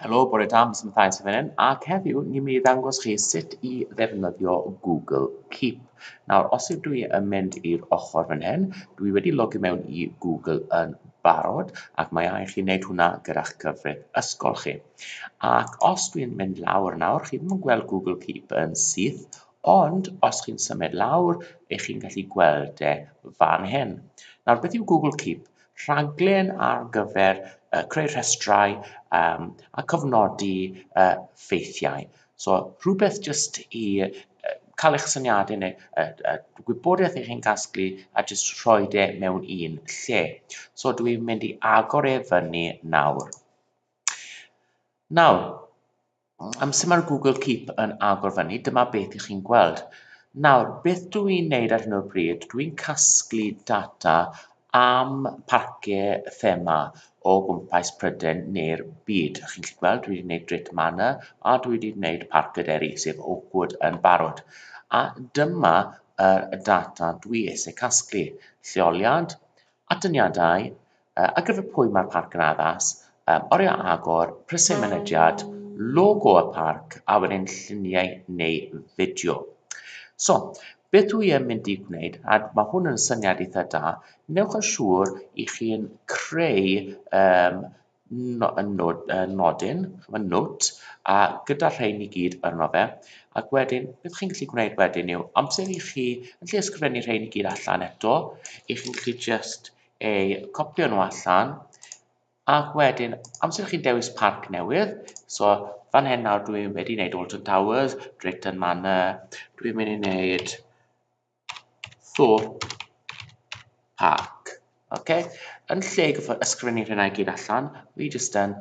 Helo, bore da, Miss Mathias yn fan ac heddiw ni'n mynd i ddangos chi sut i ddefnyddio Google Keep. Nawr, os ydw i yn mynd i'r ochr fan hyn, dwi wedi logio mewn i Google yn barod, ac mae angen chi wneud hwnna gyda'ch cyfrif ysgol chi. Ac os dwi'n mynd lawr nawr, chi ddim yn gweld Google Keep yn syth, ond os chi'n symud lawr, ych chi'n gallu gweld e fan hyn. Nawr, beth yw Google Keep? rhaglen ar gyfer yy creu rhestrau yym a cofnodi yy ffeithiau. So rhywbeth jyst i yy cael eich syniadau neu y y gwybodaeth ych chi'n casglu a jyst rhoi e mewn un lle. So dw i'n mynd i agor e fyny nawr. Nawr, Amser mae'r Google Keep yn agor fyny, dyma beth i chi'n gweld. Nawr, beth dw i'n neud ar hyn o bryd, dw i'n casglu data am parciau thema o gwmpas Prydain neu'r byd. Chi'n gallu gweld, dwi wedi gwneud Drit Manor a dwi wedi gwneud Parc y Deri, sef Oakwood yn barod. A dyma y data dwi eisiau casglu. Lleoliad, atyniadau, Ar gyfer pwy mae'r parc yn addas? Yym, oriau agor, prisiau mynediad, logo y parc, a wedyn lluniau neu fideo. So, beth dwi yn mynd i gwneud, a mae hwn yn syniad eitha da, newch yn siŵr i chi'n creu um, no, nod, uh, nodyn, mae nod, a gyda rhain i gyd arno fe, ac wedyn, beth chi'n gallu gwneud wedyn yw, amser i chi, yn lle ysgrifennu rhain i gyd allan eto, i chi'n gallu just eu copio nhw allan, ac wedyn, amser chi'n dewis parc newydd, so fan hyn nawr dwi wedi wneud Alton Towers, Drayton Manor, dwi'n mynd i wneud Thorpe Park. Okay? Yn lle ysgrifennu rhywna i gyd allan, fi jyst yn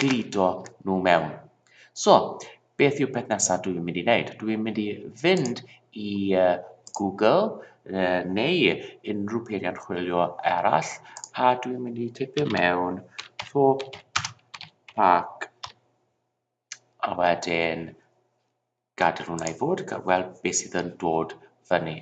gludo nhw mewn. So, beth yw peth nesaf dwi'n mynd i wneud? Dwi'n mynd i fynd i Google neu unrhyw peiriant chwilio arall a dwi'n mynd i tipio mewn Thorpe Park a wedyn Gadael hwnna i fod, a gweld beth sydd yn dod fyny.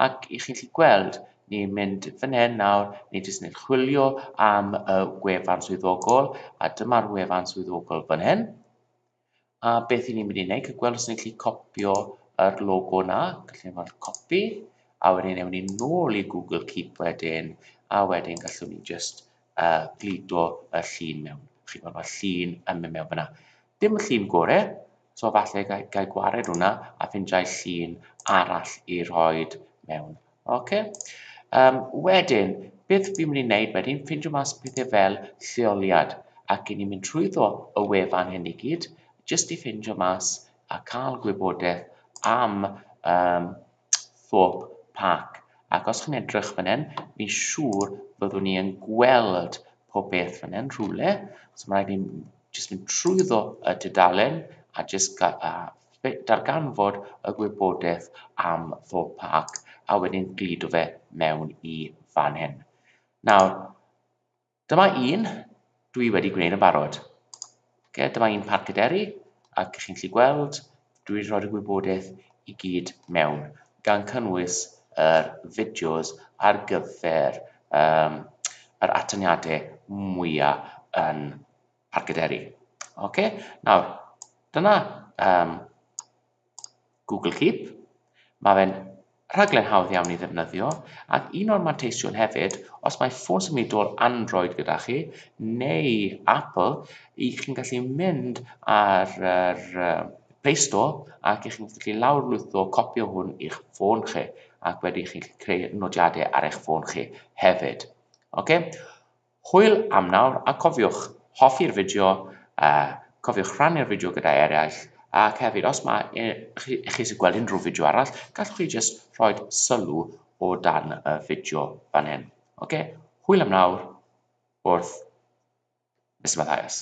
Ac i chi'n lli gweld, ni'n mynd fan hyn nawr, ni jyst yn chwilio am y gwefan swyddogol, a dyma'r wefan swyddogol fan hyn. A beth i ni'n mynd i wneud, cael gweld os ni'n lli copio yr logo na, gallwn ni weld copi, a wedyn ewn ni nôl i Google Keep wedyn, a wedyn gallwn ni jyst yy gludo y llun mewn. Chi'n gweld mae'r llun yn mynd mewn fyna. Dim y llun gore, so falle ga i, ga i gwared hwnna a ffindiau llun arall i roi mewn. Okay. Um, wedyn, beth fi'n mynd i wneud wedyn, ffindio mas pethau fel lleoliad, ac i ni'n mynd trwyddo y wefan hyn i gyd, jyst i ffindio mas a cael gwybodaeth am um, Thorpe Park, ac os chi'n edrych fan hyn, fi'n siŵr byddwn ni yn gweld pob peth fan hyn rhywle, so mae rhaid i ni jyst mynd trwyddo y tudalen a jyst darganfod y gwybodaeth am Thorpe Park, a wedyn gludo fe mewn i fan hyn. Nawr, Dyma un dwi wedi gwneud yn barod. Okay, dyma un Parc y Deri, ac chi'n gallu gweld, dwi wedi rhoi'r gwybodaeth i gyd mewn, gan cynnwys yr fideos ar gyfer um, yr atyniadau mwyaf yn Parc y Deri. Okay? Nawr, dyna um, Google Keep. Mae fe'n rhaglen hawdd iawn i ddefnyddio, ac un o'r manteision hefyd, os mae ffôn symudol Android gyda chi, neu Apple, i chi'n gallu mynd ar yr Play Store ac i chi'n gallu lawrlwytho copi o hwn i'ch ffôn chi, ac wedyn chi'n gallu creu nodiadau ar eich ffôn chi hefyd. Oce? Hwyl am nawr a cofiwch hoffi'r fideo a cofiwch rhannu'r fideo gyda eraill ac hefyd os mae chi eisiau gweld unrhyw fideo arall gallwch chi jyst rhoi sylw o dan y fideo fan hyn. Ok, hwyl am nawr wrth Mister Mathias.